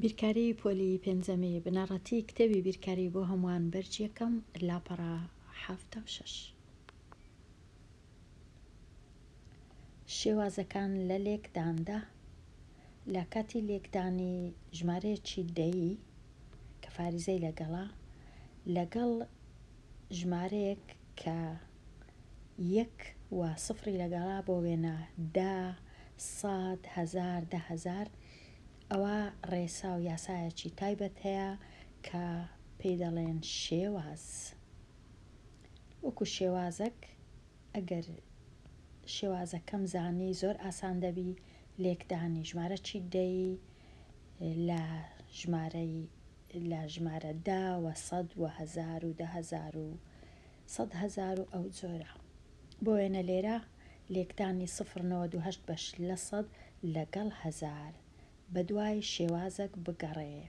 بیرکاری پۆلی پێنجەمی بنەڕەتی کتێبی بیرکاری بۆ هەمووان بەرج یەکەم لاپەڕە حەفتا و شەش شێوازەکان لە لێکداندا لە کاتی لێکدانی ژمارەیەکی دەیی کە فاریزەی لەگەڵا لەگەڵ ژمارەیەک کە یەک و سفری لە گەڕا بۆ وێنە دە سەد هەزار دە هەزار ئەوە ڕێسا و یاسایەکی تایبەت هەیە کە پێی دەڵێن شێواز وەکو شێوازەک ئەگەر شێوازەکەم زانی زۆر ئاسان دەبی لێکدانی ژمارە چی دەی لە ژمارەی لە ژمارە دا وە سەد وە هەزار و دە هەزار و سەد هەزار و ئەو جۆرە. بۆ وێنە لێرە لێکدانی سفر نەوەد و هەشت بەش لە سەد لەگەڵ هەزار بە دوای شێوازەک بگەڕێ.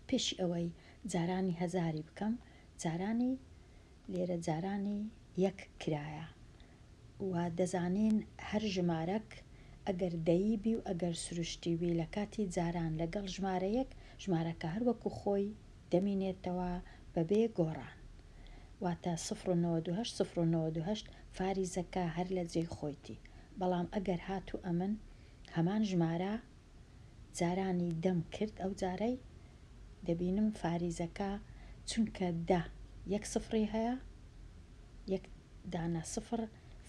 پێشی ئەوەی جارانی هەزاری بکەم جارانی لێرە جارانی یەک کرایە و دەزانین هەر ژمارەک ئەگەر دەیی بی و ئەگەر سروشتی بی لە کاتی جاران لەگەڵ ژمارەیەک ژمارەکە هەر وەکوو خۆی دەمینێتەوە بەبێ گۆڕان واتە سفر و نەوەد و هەشت سفر و نەوەد و هەشت فاریزەکە هەر لە جێی خۆیتی بەڵام ئەگەر هاتوو ئەمن هەمان ژمارە جارانی دەم کرد ئەو جارەی دەبینم فاریزەکە چونکە دە یەک سفری هەیە یەک دانە سفر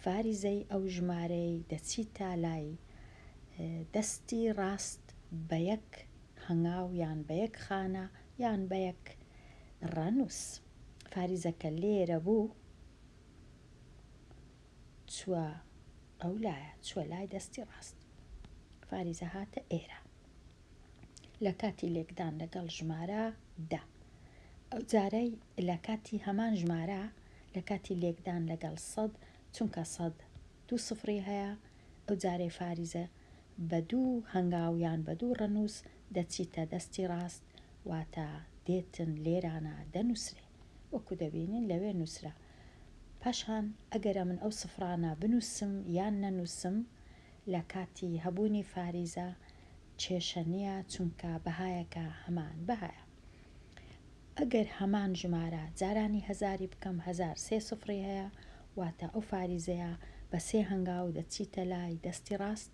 فاریزەی ئەو ژمارەی دەچیتە لای دەستی ڕاست بە یەک هەنگاو یان بە یەک خانە یان بە یەک ڕەنووس. فاریزە کە لێرە بوو چووە ئەو لایە، چووە لای دەستی ڕاست. فاریزە هاتە ئێرە لە کاتی لێکدان لەگەڵ ژمارە دە. ئەو جارەی لە کاتی هەمان ژمارە لە کاتی لێکدان لەگەڵ سەد، چونکە سەد دوو سفری هەیە، ئەو جارەی فاریزە بە دوو هەنگاو یان بە دوو ڕەنووس دەچیتە دەستی ڕاست، واتە دێتن لێرانە دەنووسرێ وەکوو دەبینین لەوێ نووسرا. پاشان ئەگەر ئەمن ئەو سفرانە بنووسم یان نەنووسم لە کاتی هەبوونی فاریزە کێشە نییە، چونکە بەهایەکە هەمان بەهایە. ئەگەر هەمان ژمارە جارانی هەزاری بکەم هەزار سێ سفری هەیە واتە ئەو فاریزەیە بە سێ هەنگاو دەچیتە لای دەستی ڕاست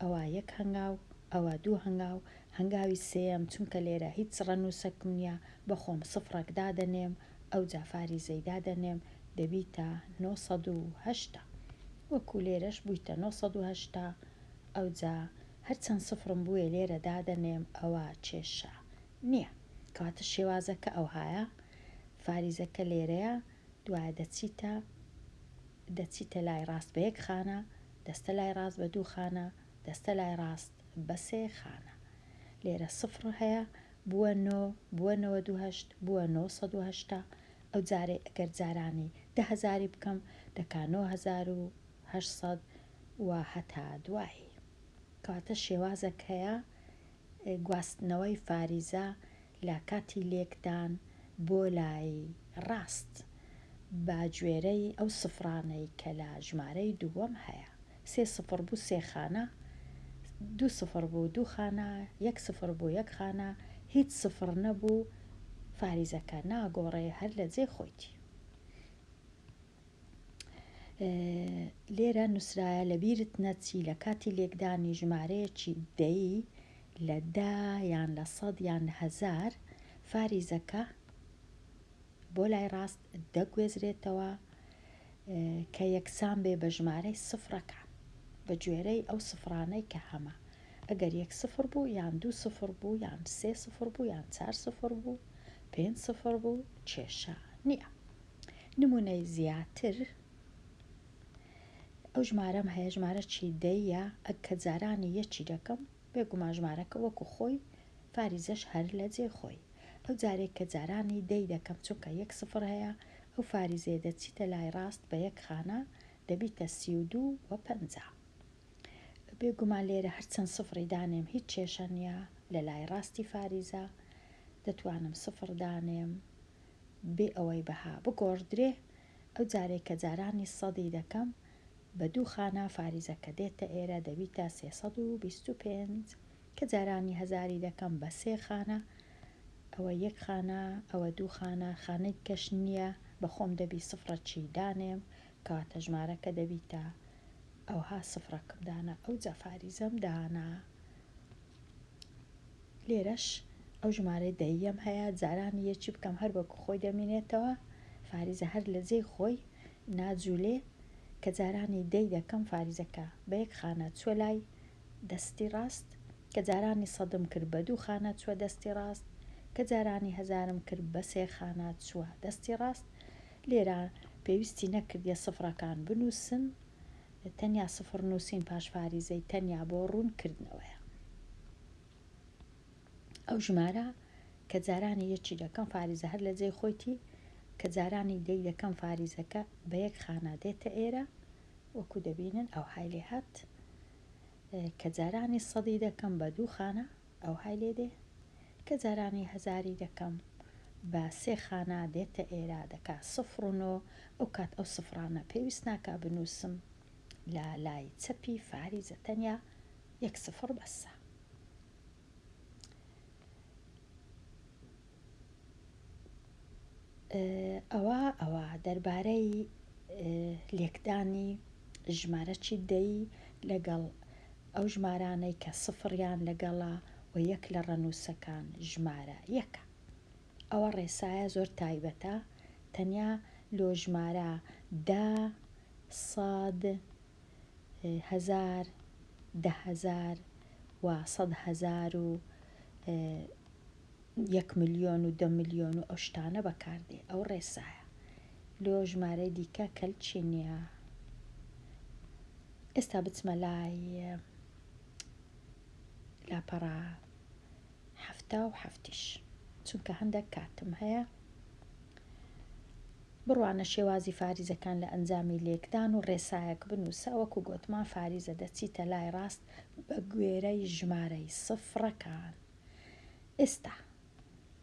ئەوا یەک هەنگاو ئەوا دوو هەنگاو هەنگاوی سێیەم چونکە لێرە هیچ ڕەنووسەکم نیە بە خۆم سفرەک دادەنێم ئەوجا فاریزەی دادەنێم دەبیتە نۆ سەد و هەشتا وەکو لێرەش بویتە نۆ سەد و هەشتا ئەوجا هەرچەند سفرم بوێ لێرە دادەنێم ئەوە کێشە نیە کەواتە شێوازەکە ئەوهایە فاریزەکە لێرەیە دوایە دەچیتە دەچیتە لای ڕاست بە یەک خانە دەستە لای ڕاست بە دوو خانە دەستە لای ڕاست بە سێ خانە لێرە سفر هەیە بووە نۆ بووە نەوەد و هەشت بووە نۆ سەد و هەشتا ئەو جارەی ئەگەر جارانی دە هەزاری بکەم دەکا نۆ هەزار و هەشت سەد و هەتا دوایی. کەواتە شێوازەک هەیە گواستنەوەی فاریزە لە کاتی لێکدان بۆ لای ڕاست بە گوێرەی ئەو سفرانەی کە لە ژمارەی دووەم هەیە، سێ سفر بوو سێ خانە، دوو سفر بوو دوو خانە، یەک سفر بوو یەک خانە، هیچ سفر نەبوو فاریزەکە ناگۆڕێ هەر لە جێی خۆیتی. لێرە نووسرایە لە بیرت نەچی لە کاتی لێکدانی ژمارەیەکی دەیی لە دا یان لە سەد یان لە هەزار فاریزەکە بۆ لای ڕاست دەگوێزرێتەوە کە یەکسان بێ بە ژمارەی سفرەکە بە گوێرەی ئەو سفرانەی کە هەمە ئەگەر یەک سفر بوو یان دوو سفر بوو یان سێ سفر بوو یان چار سفر بوو پێنج سفر بوو کێشە نییە. نمونەی زیاتر ئەو ژمارەم هەیە ژمارە چی دەیە ئەک کە جارانی یەکی دەکەم بێگومان ژمارەکە وەکو خۆی فاریزەش هەر لە جێ خۆی ئەو جارێک کە جارانی دەی دەکەم چونکە یەک سفر هەیە ئەو فاریزێ دەچیتە لای ڕاست بە یەک خانە دەبیتە سی و دوو و پەنجا بێگومان لێرە هەرچەند سفری دانێم هیچ کێشە نییە لە لای ڕاستی فاریزە دەتوانم سفر دانێم بێ ئەوەی بەها بگۆڕدرێ، ئەو جارەی کە جارانی سەدی دەکەم بە دوو خانە فاریزە کە دێتە ئێرە دەبیتە سێ سەد و بیست و پێنج، کە جارانی هەزاری دەکەم بە سێ خانە، ئەوە یەک خانە، ئەوە دوو خانە، خانەی دیکەش نییە، بە خۆم دەبی سفڕەکی دانێم، کەواتە ژمارەکە دەبیتە ئەوها سفڕەکم دانا، ئەوجا فاریزەم دانا. لێرەش ئەو ژمارەی دەیەم هەیە جاران یەکی بکەم هەر بەکو خۆی دەمینێتەوە فاریزە هەر لە جێی خۆی ناجولێ کە جارانی دەی دەکەم فاریزەکە بە یەک خانە چوە لای دەستی ڕاست کە جارانی سەدم کرد بە دوو خانە چوە دەستی ڕاست کە جارانی هەزارم کرد بە سێ خانە چوە دەستی ڕاست لێرە پێویستی نەکردیە سفرەکان بنوسم تەنیا سفر نووسین پاش فاریزەی تەنیا بۆ ڕوون کردنەوەیە. ئەو ژمارە کە جارانی یەکی دەکەم فاریزە هەر لە جێی خۆیتی کە جارانی دەی دەکەم فاریزەکە بە یەک خانە دێتە ئێرە وەکو دەبینن ئەوهای لێ هات کە جارانی سەدی دەکەم بە دوو خانە ئەوهای لێ دێ کە جارانی هەزاری دەکەم بە سێ خانە دێتە ئێرە دەکا سفر و نۆ ئەو کات ئەو سفرانە پێویست ناکا بنووسم لە لای چەپی فاریزە تەنیا یەک سفر بەسە. ئەوا ئەوا دەربارەی لێکدانی ژمارە چیت دەی لەگەڵ ئەو ژمارانەی کە سفڕیان لەگەڵە و یەک لە ڕەنووسەکان ژمارە یەکە ئەوە ڕێسایە زۆر تایبەتە تەنیا لۆ ژمارە دا ساد هەزار دەهزار و سەد هەزار و یەک ملیۆن و دە ملیۆن و ئەو شتانە بەکار دێ ئەو ڕێسایە لۆ ژمارەی دیکە کەلچی نییە ئێستا بچمە لای لاپەڕە هەفتا و هەفتیش چونکە هەندێک کاتم هەیە بڕوانە شێوازی فاریزەکان لە ئەنجامی لێکدان و ڕێسایەک بنووسە وەکو گوتمان فاریزە دەچیتە لای ڕاست بە گوێرەی ژمارەی سفرەکان ئێستا.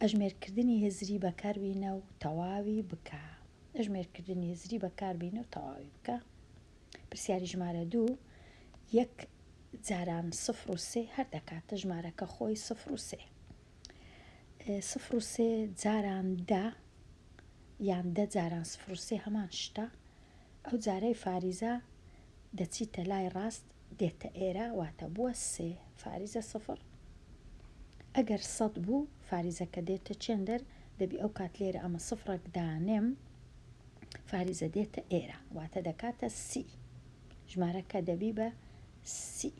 ئەژمێرکردنی هزری بەکاربینە و تەواوی بکە. ئەژمێرکردنی هزری بەکاربینە و تەواوی بکە. پرسیاری ژمارە دوو، یەک جاران سفر و سێ هەر دەکاتە ژمارەکە خۆی سفر و سێ. سفر و سێ جاران دە یان دە جاران سفر و سێ هەمان شتە. ئەو جارەی فاریزە دەچیتە لای ڕاست دێتە ئێرە واتە بووە سێ فاریزە سفر ئەگەر سەد بوو فاریزەکە دێتە چێندەر دەبی ئەو کات لێرە ئەمە سفرەک دانێم فاریزە دێتە ئێرە واتە دەکاتە سی ژمارەکە دەبی بە سی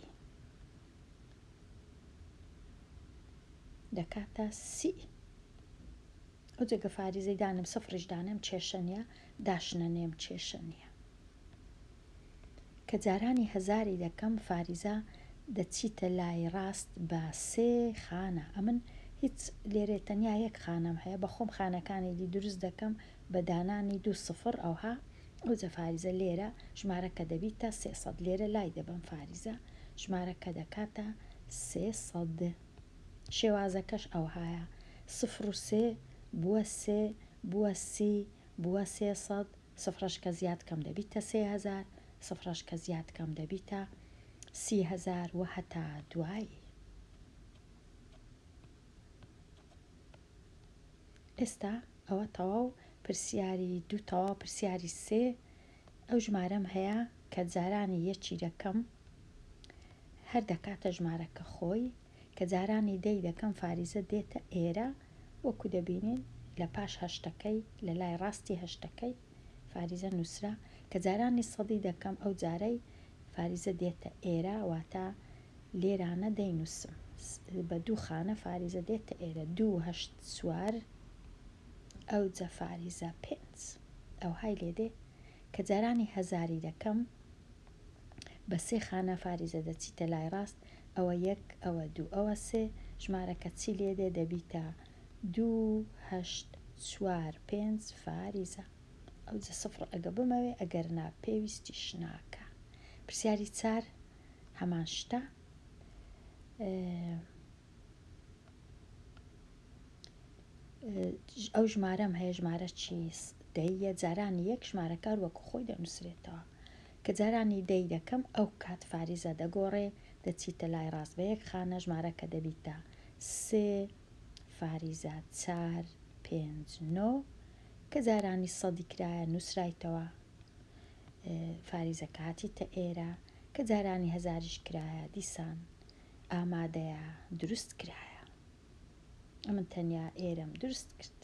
دەکاتە سی ئەو جێگە فاریزەی دانێم سفڕیش دانێم کێشە نیە داشنە نێم کێشە نیە کە جارانی هەزاری دەکەم فاریزە دەچیتە لای ڕاست بە سێ خانە ئەمن هیچ لێرێ تەنیا یەک خانەم هەیە بە خۆم خانەکانی دی دروست دەکەم بە دانانی دوو سفڕ ئەوها ئەو جە فاریزە لێرە ژمارە کە دەبیتە سێ سەد لێرە لای دەبەم فاریزە ژمارە کە دەکاتە سێ سەد. شێوازەکەش ئەوهایە، سفر و سێ، بووە سێ، بووە سی، بووە سێ سەد، سفرەش کە زیاد کەم دەبیتە سێ هەزار، سفرەش کە زیاد کەم دەبیتە سی هەزار و هەتا دوایی. ئێستا ئەوە تەواو پرسیاری دوو تەواو پرسیاری سێ ئەو ژمارەم هەیە کە جارانی یە چیرەکەم هەر دەکاتە ژمارەکە خۆی کە جارانی دەی دەکەم فاریزە دێتە ئێرە وەکو دەبینین لە پاش هەشتەکەی لە لای ڕاستی هەشتەکەی فاریزە نووسرا کە جارانی سەدی دەکەم ئەو جارەی فاریزە دێتە ئێرە واتە لێرانە دەینووسم بە دوو خانە فاریزە دێتە ئێرە دوو هەشت سوار ئەو جە فاریزە پێنج. ئەوهای لێدێ کە جارانی هەزاری دەکەم بە سێ خانە فاریزە دەچیتە لای ڕاست ئەوە یەک ئەوە دوو ئەوە سێ ژمارەکە چی لێدێ دەبیتە دوو هەشت چوار پێنج فاریزە ئەوجە سفڕ ئەگە بمەوێ ئەگەر نا پێویستیش ناکا پرسیاری چار هەمان شتە ئەو ژمارەم هەیە ژمارە چیس دەیە جارانی یەک ژمارەکار وەکو خۆی دەنووسرێتەوە کە جارانی دەی دەکەم ئەو کات فاریزە دەگۆڕێ دەچیتە لای ڕاست بە یەک خانە ژمارەکە دەبیتە سێ فاریزە چار پێنج نۆ کە جارانی سەدی کرایە نووسرایتەوە فاریزە کاتی تە ئێرە کە جارانی هەزاریش کرایە دیسان ئامادەیە دروست کرایە ئەمن تەنیا ئێرەم دروست کرد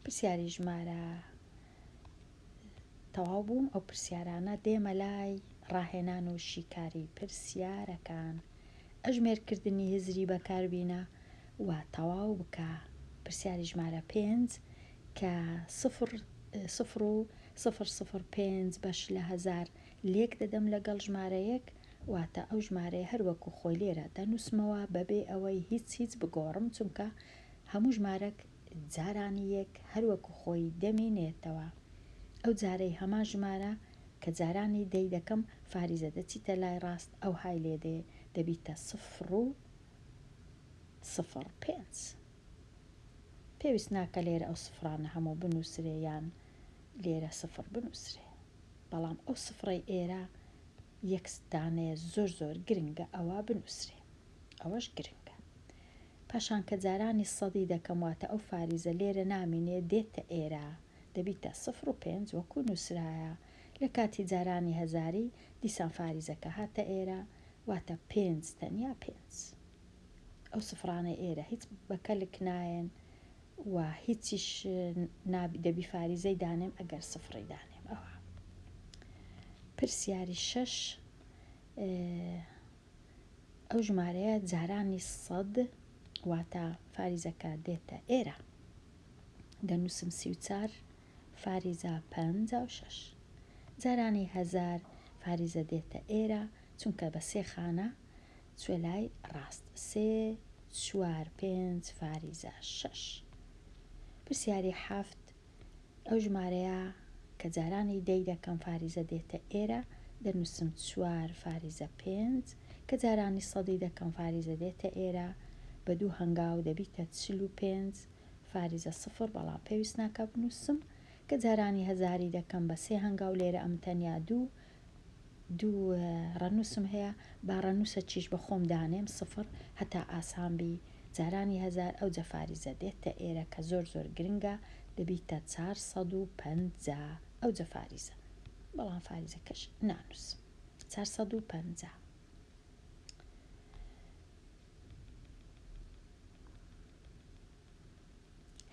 پرسیاری ژمارە تەواو بووم ئەو پرسیارانە دێمە لای ڕاهێنان و شیکاری پرسیارەکان ئەژمێرکردنی هزری بەکاربینە و تەواو بکە پرسیاری ژمارە پێنج کە سفر سفر و سفر سفر پێنج بەش لە هەزار لێک دەدەم لەگەڵ ژمارە یەک، واتە ئەو ژمارەیە هەر وەکو خۆی لێرە دەنووسمەوە بەبێ ئەوەی هیچ هیچ بگۆڕم، چونکە هەموو ژمارەک جارانی یەک هەر وەکو خۆی دەمینێتەوە. ئەو جارەی هەمان ژمارە کە جارانی دەی دەکەم، فاریزە دەچیتە لای ڕاست ئەوهای لێ دێ دەبیتە سفر و سفر پێنج. پێویست ناکە لێرە ئەو سفرانە هەموو بنووسرێ یان لێرە سفر بنووسرێ. بەڵام ئەو سفڕەی ئێرە یەک دانەیە زۆر زۆر گرنگە ئەوە بنووسرێ ئەوەش گرنگە پاشان کە جارانی سەدی دەکەم واتە ئەو فاریزە لێرە نامینێ دێتە ئێرە دەبیتە سفڕ و پێنج وەکوو نووسرایە لە کاتی جارانی هەزاری دیسان فاریزەکە هاتە ئێرە واتە پێنج تەنیا پێنج ئەو سفڕانەی ئێرە هیچ بە کەلک نایەن و هیچیش نابی دەبی فاریزەی دانێم ئەگەر سفڕی دانێم ئەوا پرسیاری شەش ئەو ژمارەیە جارانی سەد واتە فاریزەکە دێتە ئێرە دەنووسم سی و چار فاریزە پ و شش جارانی هزار فاریزە دێتە ئێرە چونکە بە سێ خانە چوە لای ڕاست سێ چوار پێنج فاریزە شەش پرسیاری حەفت ئەو ژمارەیە کە جارانی دەی دەکەم فاریزە دێتە ئێرە دەنوسم چوار فاریزە پێنج کە جارانی سەدی دەکەم فاریزە دێتە ئێرە بە دوو هەنگاو دەبیتە چل و پێنج فاریزە سفر بەڵام پێویست ناکا بنوسم کە جارانی هەزاری دەکەم بە سێ هەنگاو لێرە ئەم تەنیا دوو دوو ڕەنووسم هەیە با ڕەنووسە چیش بە خۆم دانێم سفڕ هەتا ئاسان بی جارانی هەزار ئەو جەفاریزە دێتتە ئێرە کە زۆر زۆر گرنگە دەبیتە چار سەد و پەنجا ئەو جەفاریزە بەڵام فاریزەکەش نانووسم چار سەد و پەنجا.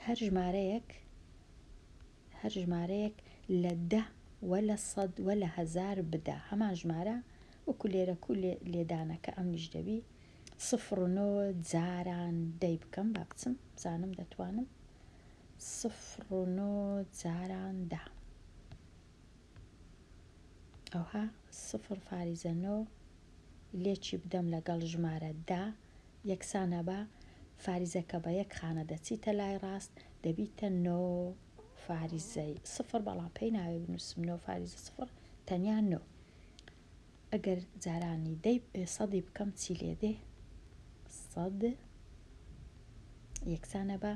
هەر ژمارەیەک هەر ژمارەیەک لە دە وە لە سەد وە لە هەزار بدە هەمان ژمارە وەکو لێرە کو لێدانەکە ئەمیش دەبی سفر و نۆ جاران دەی بکەم با بچم بزانم دەتوانم سفر و نۆ جاران دا ئەوها سفر فاریزە نۆ لێ چی بدەم لەگەڵ ژمارە دە یەکسانە بە فاریزە کە بە یەک خانە دەچیتە لای ڕاست دەبیتە نۆ فاریزەی سفر بەڵام پێی ناوێ بنووسم نۆ فاریزە سفر تەنیا نۆ ئەگەر جارانی دەی پێ سەدی بکەم چی لێ دێ سەد یەکسانە بە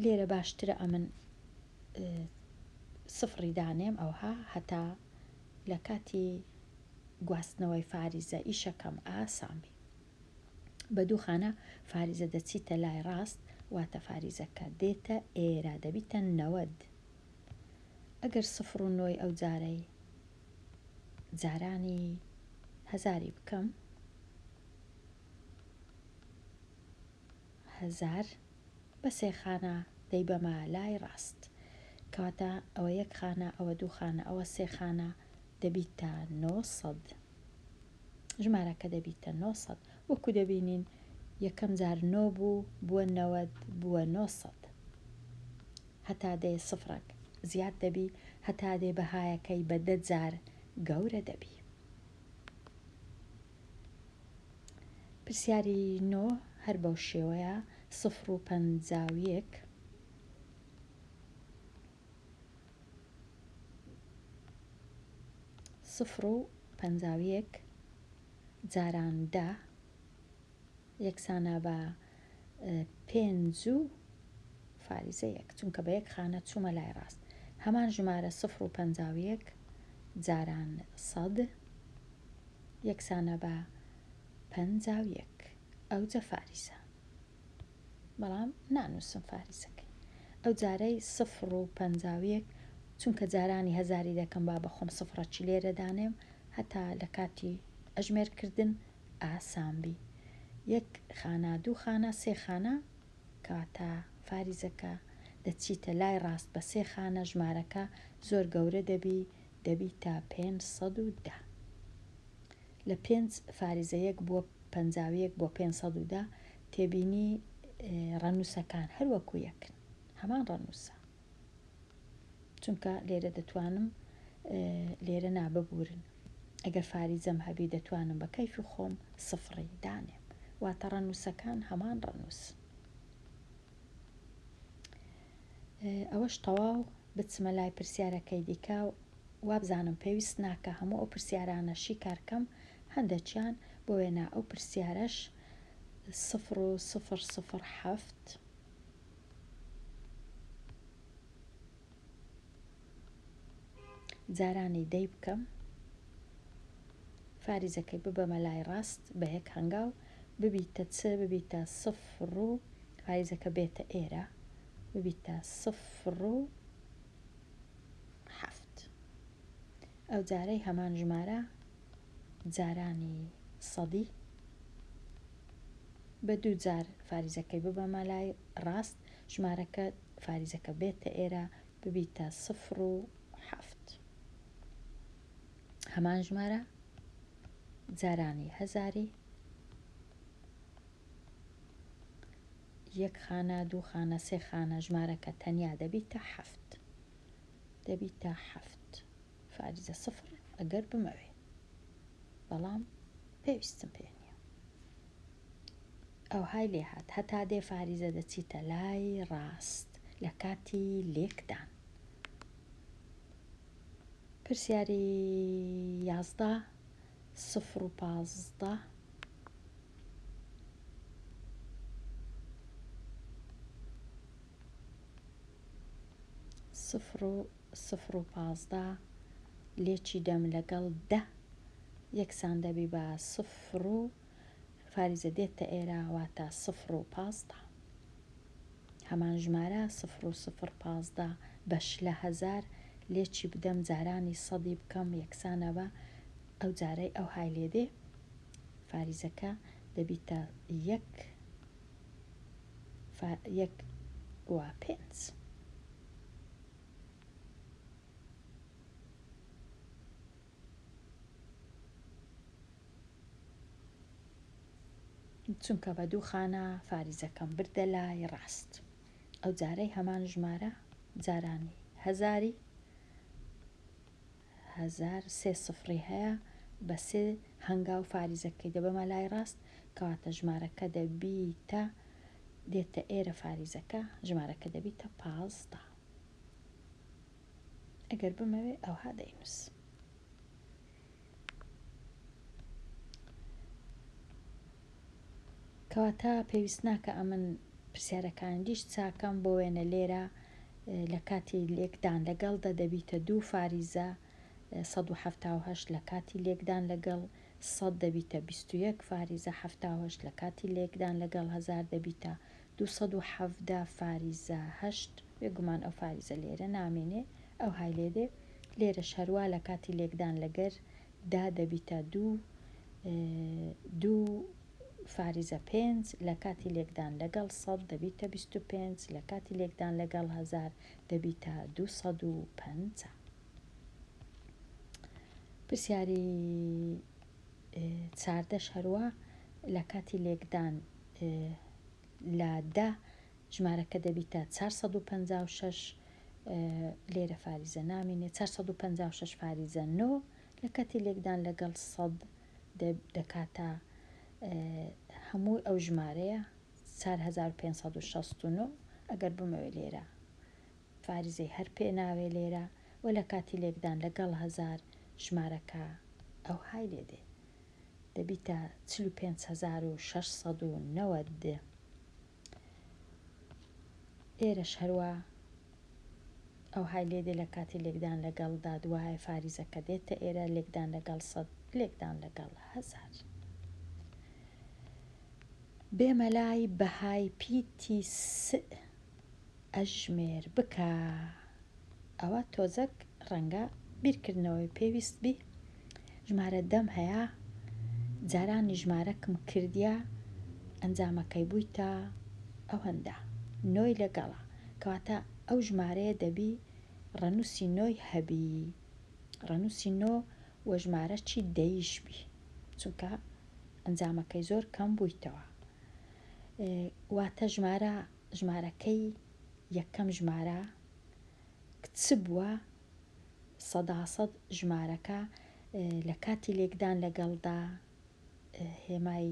لێرە باشترە ئەمن سفڕی دانێم ئەوها هەتا لە کاتی گواستنەوەی فاریزە ئیشەکەم ئاسان بی بە دووخانە فاریزە دەچیتە لای ڕاست واتە فاریزەکە دێتە ئێرا دەبیتە نەوەد ئەگەر سفر و نۆی ئەو جارەی جارانی هەزاری بکەم هەزار بە سێ خانە دەی بەمە لای ڕاست کەواتە ئەوە یەک خانە ئەوە دوو خانە ئەوە سێ خانە دەبیتە نۆ سەد ژمارەکە دەبیتە نۆ سەد وەکو دەبینین یەکەم جار نۆ بوو بووە نەوەد بووە نۆ سەد هەتا دێ سفرەک زیاد دەبی هەتا دێ بەهایەکەی بە دە جار گەورە دەبی. پرسیاری نۆ هەر بەو شێوەیە سفر و پەنجا و یەک. سفر و پەنجا و یەک جاران دە یەکسانە بە پێنج و فاریزە یەک چونکە بە یەک خانە چوومە لای ڕاست هەمان ژمارە سفر و پەنجا و یەک جاران سەد یەکسانە بە پەنجا و یەک ئەوجە فاریزە بەڵام نانووسم فاریزەکەی ئەو جارەی سفر و پەنجا و یەک چونکە جارانی هەزاری دەکەم با بەخۆم سفرەچی لێرە دانێم هەتا لە کاتی ئەژمێرکردن ئاسان بی یەک خانە دوو خانە سێ خانە کەواتە فاریزەکە دەچیتە لای ڕاست بە سێ خانە ژمارەکە زۆر گەورە دەبی دەبیتە پێنج سەد و دە لە پێنج فاریزە یەک بووە پەنجا و یەک بۆ پێنج سەد و دە تێبینی ڕەنووسەکان هەروەکو یەکن هەمان ڕەنووسە چونکە لێرە دەتوانم لێرە نا ببورن ئەگەر فاریزەم هەبی دەتوانم بە کەیفی خۆم سفڕی دانێم واتە ڕەنووسەکان هەمان ڕەنووس ئەوەش تەواو بچمە لای پرسیارەکەی دیکە و وابزانم پێویست ناکە هەموو ئەو پرسیارانە شیکارکەم هەندێکیان بۆ وێنا ئەو پرسیارەش سفر و سفر سفر حەفت جارانی دەی بکەم فاریزەکەی ببەمە لای ڕاست بە یەک هەنگاو ببیتە چ ببیتە سفر و فاریزەکە بێتە ئێرە ببیتە سفر و حەفت ئەو جارەی هەمان ژمارە جارانی سەدی بە دوو جار فاریزەکەی ببەمە لای ڕاست ژمارەکە فاریزەکە بێتە ئێرە ببیتە سفر و حەفت هەمان ژمارە جارانی هەزاری یەک خانە دوو خانە سێ خانە ژمارەکە تەنیا دەبیتە حەفت دەبیتە حەفت فاریزە سفر ئەگەر بمەوێ بەڵام پێویستم پێ نیە ئەوهای لێ هات هەتا دێ فاریزە دەچیتە لای ڕاست لە کاتی لێکدان پرسیاری یازدە سفر و پازدە سفر و سفر و پازدە لێکی دەم لەگەڵ دە یەکسان دەبی بە سفر و فاریزە دێتتە ئێرە واتە سفر و پازدە هەمان ژمارە سفر و سفر پازدە بەش لە هەزار لێکی بدەم جارانی سەدی بکەم یەکسانە بە ئەو جارەی ئەوهای لێ دێ فاریزەکە دەبیتە یەک فا یەک وا پێنج. چونکە بە دوو خانە فاریزەکەم بردە لای ڕاست ئەو جارەی هەمان ژمارە جارانی هەزاری هەزار سێ سفڕی هەیە بە سێ هەنگاو فاریزەکەی دەبەمە لای ڕاست کەواتە ژمارەکە دەبیتە دێتە ئێرە فاریزەکە ژمارەکە دەبیتە پازدە ئەگەر بمەوێ ئەوها دەینوس کەواتە پێویست ناکە ئەمن پرسیارەکان دیش چاکەم بۆ وێنە لێرە لە کاتی لێکدان لەگەڵ دە دەبیتە دوو فاریزە سەد و حەفتا و هەشت لە کاتی لێکدان لەگەڵ سەد دەبیتە بیست و یەک فاریزە حەفتا و هەشت لە کاتی لێکدان لەگەڵ هەزار دەبیتە دوو سەد و حەڤدە فاریزە هەشت بێ گومان ئەو فاریزە لێرە نامێنێ ئەوهای لێ دێ لێرەش هەروا لە کاتی لێکدان لەگەر دا دەبیتە دوو دوو فاریزە پێنج، لە کاتی لێکدان لەگەڵ سەد دەبیتە بیست و پێنج، لە کاتی لێکدان لەگەڵ هەزار دەبیتە دوو سەد و پەنجا. پرسیاری چاردە شەروە لە کاتی لێکدان لە دە ژمارەکە دەبیتە 456 لێرە فاریزە نامینێ 456 فاریزە نۆ لە کاتی لێکدان لەگەڵ سەد دەکاتە هەمووی ئەو ژمارەیە چار هەزار و پێنج سەد و شەست و نۆ ئەگەر بمەوێ لێرە فاریزەی هەر پێ ناوێ لێرە و لە کاتی لێکدان لەگەڵ هەزار ژمارەکە ئەو های لێ دێ دەبیتە چل و پێنج هەزار و شەش سەد و نەوەد ئێرەش هەروا ئەوهای لێ دێ لە کاتی لێکدان لە گەڵ دا دوایە فاریزە کە دێتە ئێرە لێکدان لە گەڵ سەد لێکدان لە گەڵ هەزار بێ مەلای بەهای پیتی سئ ئەژمێر بکا ئەوە تۆزەک ڕەنگە بیرکردنەوەی پێویست بی ژمارە دەم هەیە جارانی ژمارەکم کردە ئەنجامەکەی بوویتە ئەوەندە نۆی لەگەڵە کەواتە ئەو ژمارەیە دەبی ڕەنووسی نۆی هەبی ڕەنووسی نۆ وە ژمارە چی دەیش بی چونکە ئەنجامەکەی زۆر کەم بوویتەوە واتە ژمارە ژمارەکەی یەکەم ژمارە کچ بووە سەدا سەد ژمارەکە لە کاتی لێکدان لەگەڵدا هێمای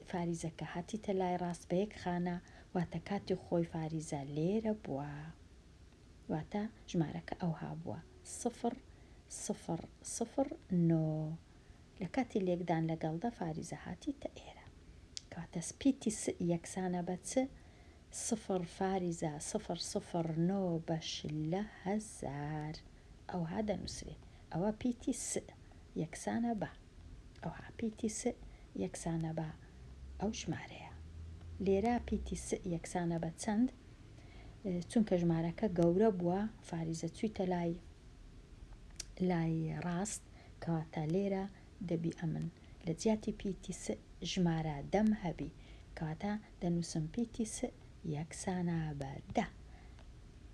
فاریزەکە هاتیتە لای ڕاست بە یەک خانە واتە کاتی خۆی فاریزە لێرە بووە واتە ژمارەکە ئەوها بووە سفر سفر سفر نۆ لە کاتی لێکدان لەگەڵدا فاریزە هاتیتە ئێرە. کەواتە سپی تی س یەکسانە بە چ؟ سفر فاریزە سفر سفر نۆ بەش لە هەزار ئەوها دەنووسرێ. ئەوە پی تی س یەکسانە بە. ئەوها پی تی س یەکسانە بە ئەو ژمارەیە. لێرە پی تی س یەکسانە بە چەند؟ چونکە ژمارەکە گەورە بووە، فاریزە چوویتە لای لای ڕاست، کەواتە لێرە دەبی ئەمن لە جیاتی پیتی سئ ژمارە دەم هەبی کەواتە دەنووسم پیتی سئ یەکسانە بە دە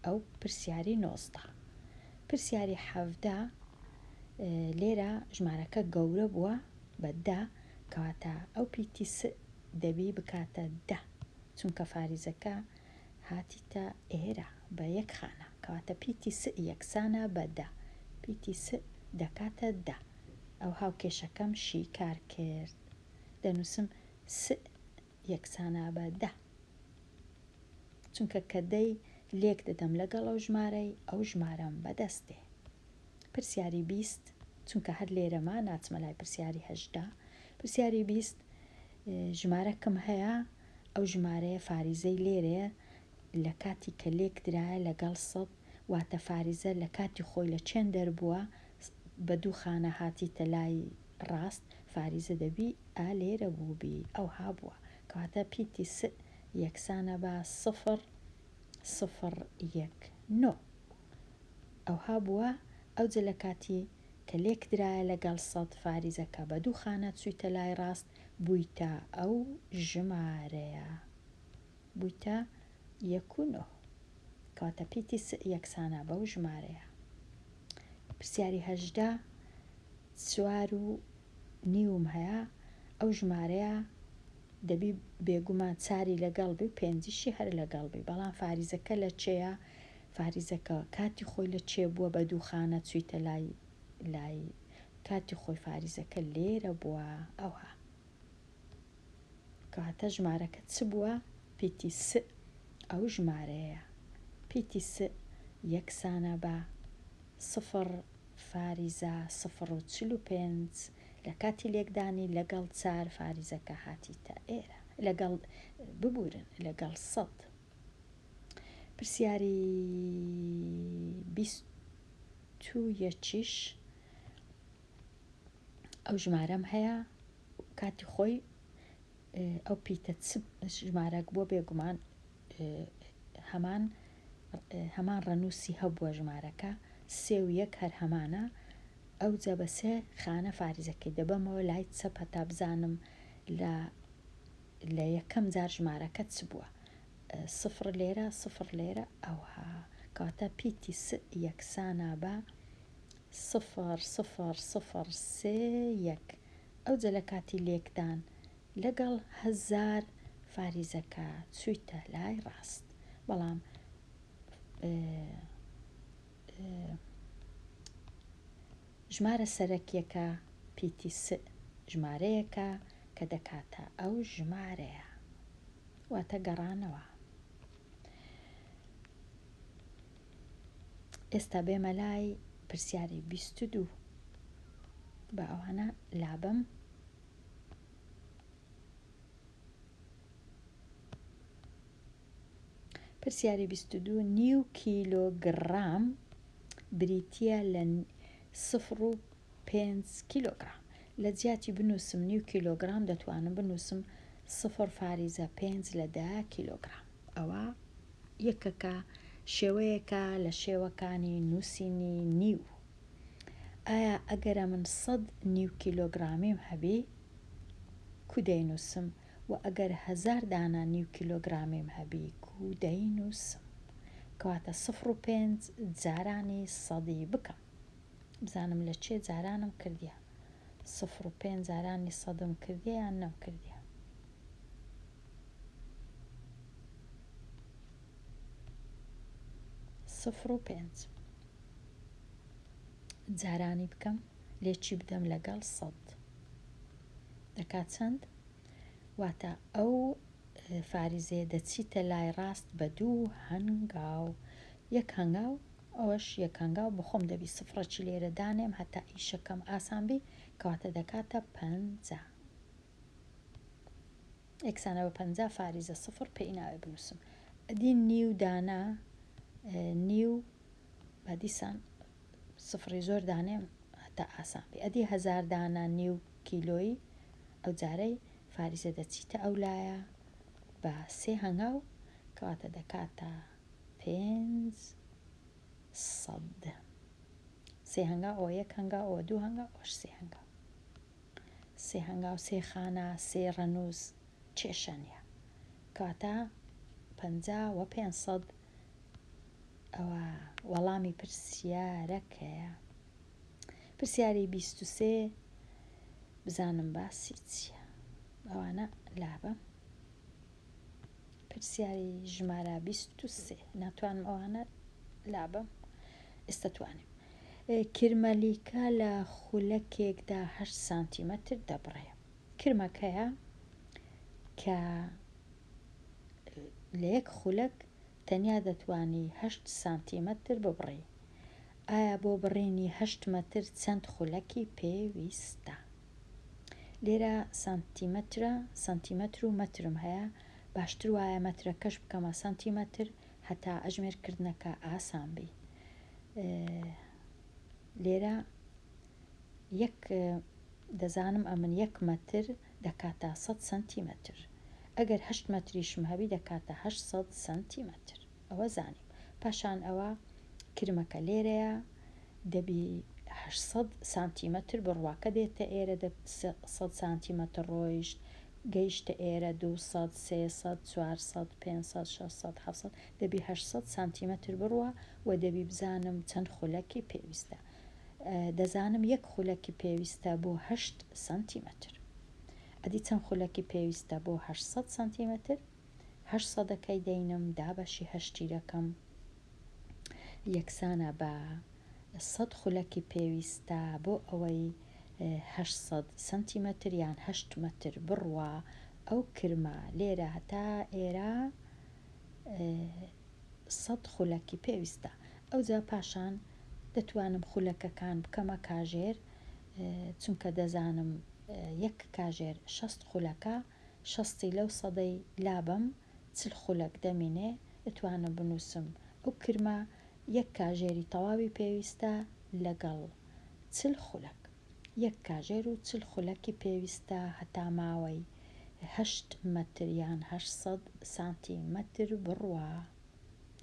ئەو پرسیاری نۆزدە پرسیاری حەڤدە لێرە ژمارەکە گەورە بووە بە دە کەواتە ئەو پیتی سئ دەبی بکاتە دە چونکە فاریزەکە هاتیتە ئێرە بە یەک خانە، کەواتە پیتی سئ یەکسانە بە دە، پیتی سئ دەکاتە دە. ئەو هاوکێشەکەم شیکار کرد. دەنووسم سئ یەکسانە بە دە. چونکە کە دەی لێک دەدەم لەگەڵ ئەو ژمارەی، ئەو ژمارەم بە دەست دێ. پرسیاری بیست، چونکە هەر لێرەما ناچمە لای پرسیاری هەژدە، پرسیاری بیست، ژمارەکم هەیە، ئەو ژمارەیە فاریزەی لێرەیە لە کاتی کە لێک درایە لەگەڵ سەد واتە فاریزە لە کاتی خۆی لە چێن دەربووە بە دوو خانە هاتیتە لای ڕاست فاریزە دەبی ئا لێرە بووبی ئەوها بووە کەواتە پیتی س یەکسانە بە سفر سفر یەک نۆ ئەوها بووە ئەوجە لە کاتی کە لێک درایە لەگەڵ سەد فاریزەکە بە دوو خانە چوویتە لای ڕاست بویتە ئەو ژمارەیە بویتە یەک و نۆ کەواتە پیتی سئ یەکسانە بەو ژمارەیە پرسیاری هەژدە چوار و نیوم هەیە ئەو ژمارەیە دەبی بێگومان چاری لەگەڵ بی و پێنجشی هەر لەگەڵ بی بەڵام فاریزەکە لە چێە فاریزەکە کاتی خۆی لە چێ بووە بە دووخانە چویتە لای لای کاتی خۆی فاریزەکە لێرە بووە ئەوها کەواتە ژمارەکە چ بووە پیتی س ئەو ژمارەیە پیتی س یەکسانە بە سفر فاریزە سفر و چل و پێنج لە کاتی لێکدانی لەگەڵ چار فاریزەکە هاتیتە ئێرە لەگەڵ ببورن لەگەڵ سەد پرسیاری بیست چوویەتیش ئەو ژمارەم هەیە کاتی خۆی ئەو پیتە ژمارەک بۆ بێگومان هەمان هەمان ڕەنووسی هەبووە ژمارەکە سێ و یەک هەر هەمانە ئەو جە بە سێ خانە فارزەکەی دەبەمەوە لای چەپ هەتا بزانم لە لە یەکەم جار ژمارەکە چ بووە سفڕ لێرە سفڕ لێرە ئەوە کاتە پیتی س یەکسانە بە سفر سفر سفر سێ یەک ئەوجە لە کاتی لێکدان لەگەڵ هەزار فاریزەکە چویتە لای ڕاست بەڵام ژمارە سەرەکیەکە پیتی س ژمارەیەکە کە دەکاتە ئەو ژمارەیە. واتە گەڕانەوە. ئێستا بێمە لای پرسیاری بیست و دوو بە ئەوانە لابم پرسیاری بیست و دوو نیو کیلۆگرام بریتە لە سفر و پێنج کیلۆگرام. لە جیاتی بنووسم نیو کیلۆگرام دەتوانم بنووسم سفر فاریزە پێنج لە دە کیلۆگرام. ئەوە یەکەکە شێوەیەکە لە شێوەکانی نووسینی نیو. ئایا ئەگەرە من سەد نیو کیلۆگرامیم هەبی کو دەینووسم و ئەگەر هەزار دانە نیو کیلۆگرامیم هەبی کو دەینووسم. کەواتە سفر و پێنج جارانی سەدی بکەم. بزانم لە چێ جارانم کردیە سفر و پێنج جارانی سەدم کردیە یان نەم کردیە. سفر و پێنج جارانی بکەم لێ چی بدەم لەگەڵ سەد دەکات چەند واتە ئەو فاریزێ دەچیتە لای ڕاست بە دوو هەنگاو یەک هەنگاو ئەوەش یەک هەنگاو بەخۆم دەبی سفرەکی لێرە دانێم هەتا ئیشەکەم ئاسان بی کەواتە دەکاتە پەنجا ئێکسانە بە پەنجا فاریزە سفر پێی ناوێ بنووسم ئەدی نیو دانە نیو بە دیسان سفری زۆر دانێم هەتا ئاسان بی ئەدی هەزار دانە نیو کیلۆیی ئەو جارەی فاریزە دەچیتە ئەو لایە بە سێ هەنگاو کەواتە دەکاتە پێنج سەد سێ هەنگاو ئەوە یەک هەنگاو ئەوە دوو هەنگاو ئەوەش سێ هەنگاو سێ هەنگاو سێ خانە سێ ڕەنووس کێشە نییە کاتە پەنجا و پێنج سەد ئەوە وەڵامی پرسیارەکەیە پرسیاری بیست و سێ بزانم باسی چییە ئەوانە لابە پرسیاری ژمارە بیست و سێ ناتوانم ئەوانە لابەم ئێستا توانیم کرمەلیکە لە خولەکێکدا هەشت سانتیمەتر دەبڕێ کرمەکەیە کە لە یەک خولەک تەنیا دەتوانی هەشت سانتیمەتر ببڕی ئایا بۆ بڕینی هەشت مەتر چەند خولەکی پێویستە لێرە سانتیمەترە سانتیمەتر و مەترم هەیە باشتر وایە مەترەکەش بکەمە سانتیمەتر هەتا ئەژمێر کردنەکە ئاسان بی لێرە یەک دەزانم ئەمن یەک مەتر دەکاتە 100 سانتیمەتر ئەگەر هەشت مەتریشم هەبی دەکاتە 800 سانتیمەتر ئەوە زانیم پاشان ئەوە کرمەکە لێرەیە دەبی هەشت سەد سانتیمەتر بڕواکە دێتە ئێرە دە سەد سانتیمەتر ڕۆیشت گەیشتە ئێرە دوو سەد سێ سەد چوار سەد پێنج سەد شەش سەد حەفت سەد دەبی هەشت سەد سانتیمەتر بڕوا و دەبی بزانم چەند خولەکی پێویستە دەزانم یەک خولەکی پێویستە بۆ هەشت سانتیمەتر ئەدی چەند خولەکی پێویستە بۆ هەشت سەد سانتیمەتر هەشت سەدەکەی دەینم دابەشی هەشت تیرەکەم یەکسانە بە سەد خولەکی پێویستە بۆ ئەوەی هەشت سەد سەنتیمەتر یان هەشت مەتر بڕوا ئەو کرمە لێرە تا ئێرە سەد خولەکی پێویستە ئەوجا پاشان دەتوانم خولەکەکان بکەمە کاژێر چونکە دەزانم یەک کاژێر شەست خولەکە شەستی لەو سەدەی لابەم چل خولەک دەمینێ ئتوانم بنووسم ئەو کرمە یەک کاژێری تەواوی پێویستە لەگەڵ چل خولەک یەک کاژێر و چل خولەکی پێویستە هەتا ماوەی هەشت مەتر یان هەشت سەد سانتی مەتر بڕوا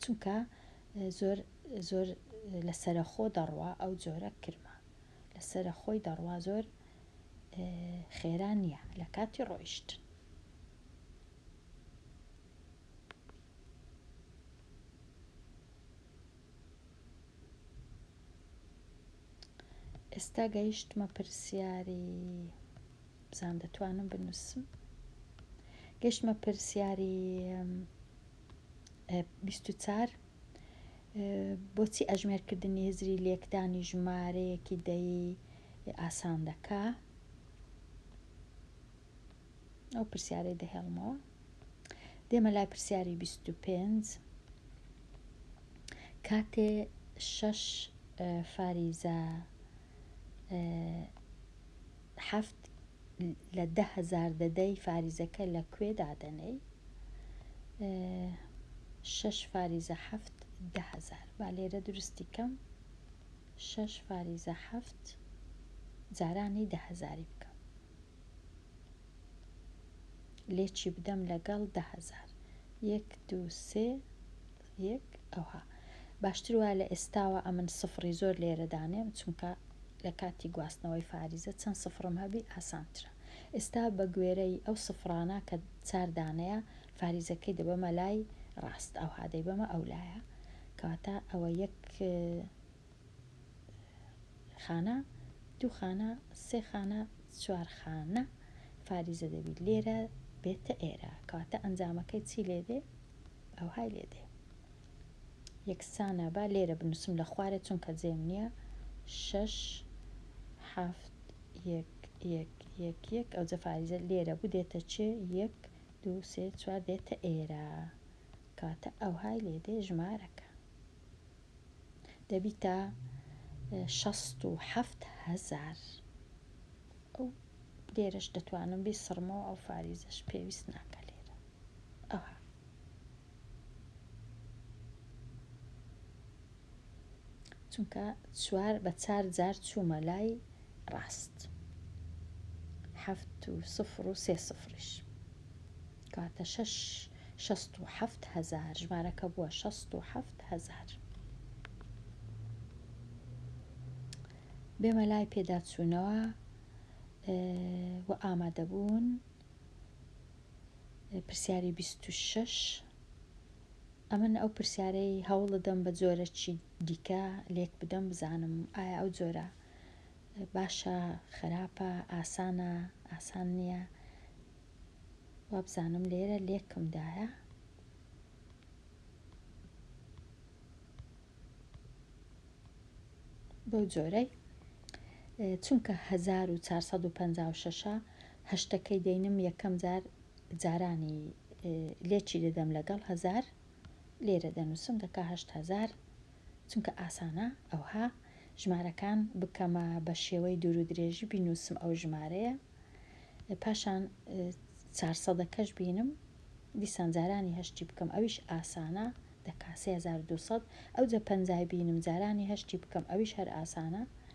چونکە زۆر زۆر لە سەرەخۆ دەڕوا ئەو جۆرە کرمە لەسەرە خۆی دەڕوا زۆر خێرا نیە لەکاتی ڕۆیشتن. ئێستا گەیشتمە پرسیاری بزان دەتوانم بنووسم گەشتمە پرسیاری بیست و چوار، بۆچی ئەژمێرکردنی هزری لێکدانی ژمارەیەکی دەیی ئاسان دەکا؟ ئەو پرسیارەی دەهێڵمەوە دێمە لای پرسیاری 25 کاتێ شەش فاریزە حەفت لە دە هەزار دەدەی فاریزەکە لە کوێ دادەنێی شەش فاریزە حەفت دە هەزار با لێرە درستی کەم شەش فاریزە حەفت جارانی دە هەزاری بکەم لێچی بدەم لەگەڵ دە هەزار یەک دو سێ یەک ئەوها باشتر وایە لە ئێستاوە ئەمن سفڕی زۆر لێرە دانێم چونکە لە کاتی گواستنەوەی فاریزە چەند سفڕم هەبی ئاسانترە ئێستا بە گوێرەی ئەو سفڕانە کە چار دانەیە فاریزەکەی دەبەمە لای ڕاست ئەوها دەیبەمە ئەو لایە کەواتە ئەوە یەک خانە دوو خانە سێ خانە چوار خانە فاریزە دەبی لێرە بێتە ئێرە کەواتە ئەنجامەکەی چی لێ دێ ئەوهای لێ دێ یەکسانە با لێرە بنووسم لە خوارێ چونکە جێم نییە شەش حەفت یەک یەک یەک یەک ئەو جەفاریزە لێرە بوو دێتە چێ یەک دو سێ چوار دێتە ئێرە کاتە ئەوهای لێ دێ ژمارەکە دەبیتە شەست و حەفت هەزار ئەو لێرەش دەتوانم بی سڕمەوە ئەو فاریزەش پێویست ناکە لێرە ئەوها. چونکە چوار بە چار جار چوومە لای ڕاست حەفت و سفر و سێ سفریش کاتە شەش شەست و حەفت هەزار ژمارەکە بووە شەست و حەفت هەزار بێمە لای پێداچوونەوە و ئامادەبوون پرسیاری بیست و شەش، ئەمن ئەو پرسیارەی هەوڵدەدەم بە جۆرەکی دیکە لێک بدەم بزانم ئایا ئەو جۆرە باشە خراپە ئاسانە ئاسان نییە وابزانم لێرە لێکمدایە بەو جۆرەی چونکە 1456 هەشتەکەی دەینم یەکەم جار جارانی لێ چی دەدەم لەگەڵ هەزار لێرە دەنووسم دەکا هەشت هەزار چونکە ئاسانە ئەوها ژمارەکان بکەمە بە شێوەی دوور و درێژی بینووسم ئەو ژمارەیە پاشان چارسەدەکەش بینم دیسان جارانی هەشتی بکەم ئەویش ئاسانە دەکا 3200 ئەو جە پەنجای بینم جارانی هەشتی بکەم ئەویش هەر ئاسانە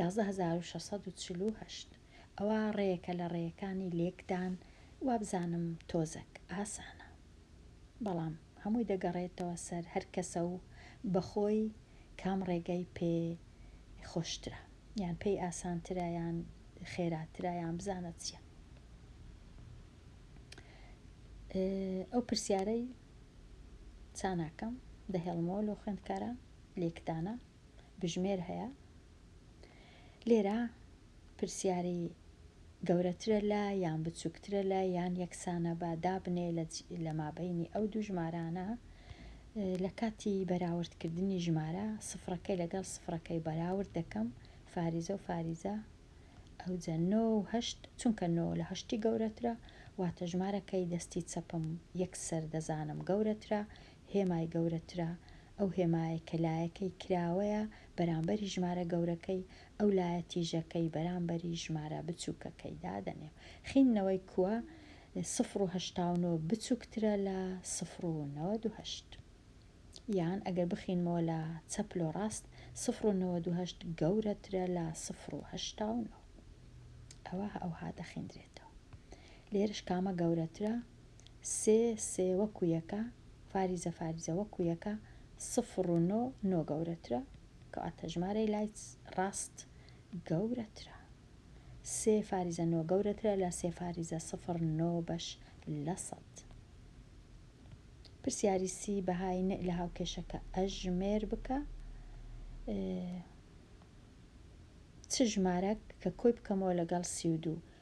یازدە هەزار و شەش سەد و چل و هەشت ئەوە ڕێیەکە لە ڕێیەکانی لێکدان وابزانم تۆزەک ئاسانە بەڵام هەمووی دەگەڕێتەوە سەر هەر کەسە و بە خۆی کام ڕێگای پێ خۆشترە یان پێی ئاسانترە یان خێراترە یان بزانە چیە ئەو پرسیارەی چاناکەم دەهێڵمەوە لەو خوێندکارە لێکدانە بژمێر هەیە لێرە پرسیاری گەورەترە لە یان بچووکترە لە یان یەکسانە بە دابنێ لە مابینی ئەو دوو ژمارانە لە کاتی بەراوردکردنی ژمارە سفرەکەی لەگەڵ سفرەکەی بەراورد دەکەم فاریزە و فاریزە ئەوجە نۆهشت چونکە نۆ لە هەشتی گەورەترە واتە ژمارەکەی دەستی چەپم یەکسەر دەزانم گەورەترە هێمای گەورەترە، ئەو هێمایەی کە لایەکەی کراوەیە بەرامبەری ژمارە گەورەکەی، ئەو لایە تیژەکەی بەرامبەری ژمارە بچووکەکەی دادەنێ. خیندنەوەی کووە سفر و هەشتا و نۆ بچووکترە لە سفر و نەوەد و هەشت. یان ئەگەر بخینمەوە لە چەپ لۆ ڕاست، سفر و نەوەد و هەشت گەورەترە لە سفر و هەشتا و نۆ. ئەوە ئەوها دەخیندرێتەوە. لێرەش کامە گەورەترە؟ سێ سێ وەکو یەکە فاریزە فاریزە وەکو یەکە سفر و نۆ نۆ گەورەترە کەواتە ژمارەی لای ڕاست گەورەترە سێ فاریزە نۆ گەورەترە لە سێ فاریزە سفر نۆ بەش لە سەد پرسیاری سی بەهای نئ لە هاوکێشەکە ئەژمێر بکە چ ژمارەک کە کۆی بکەمەوە لەگەڵ سی و دوو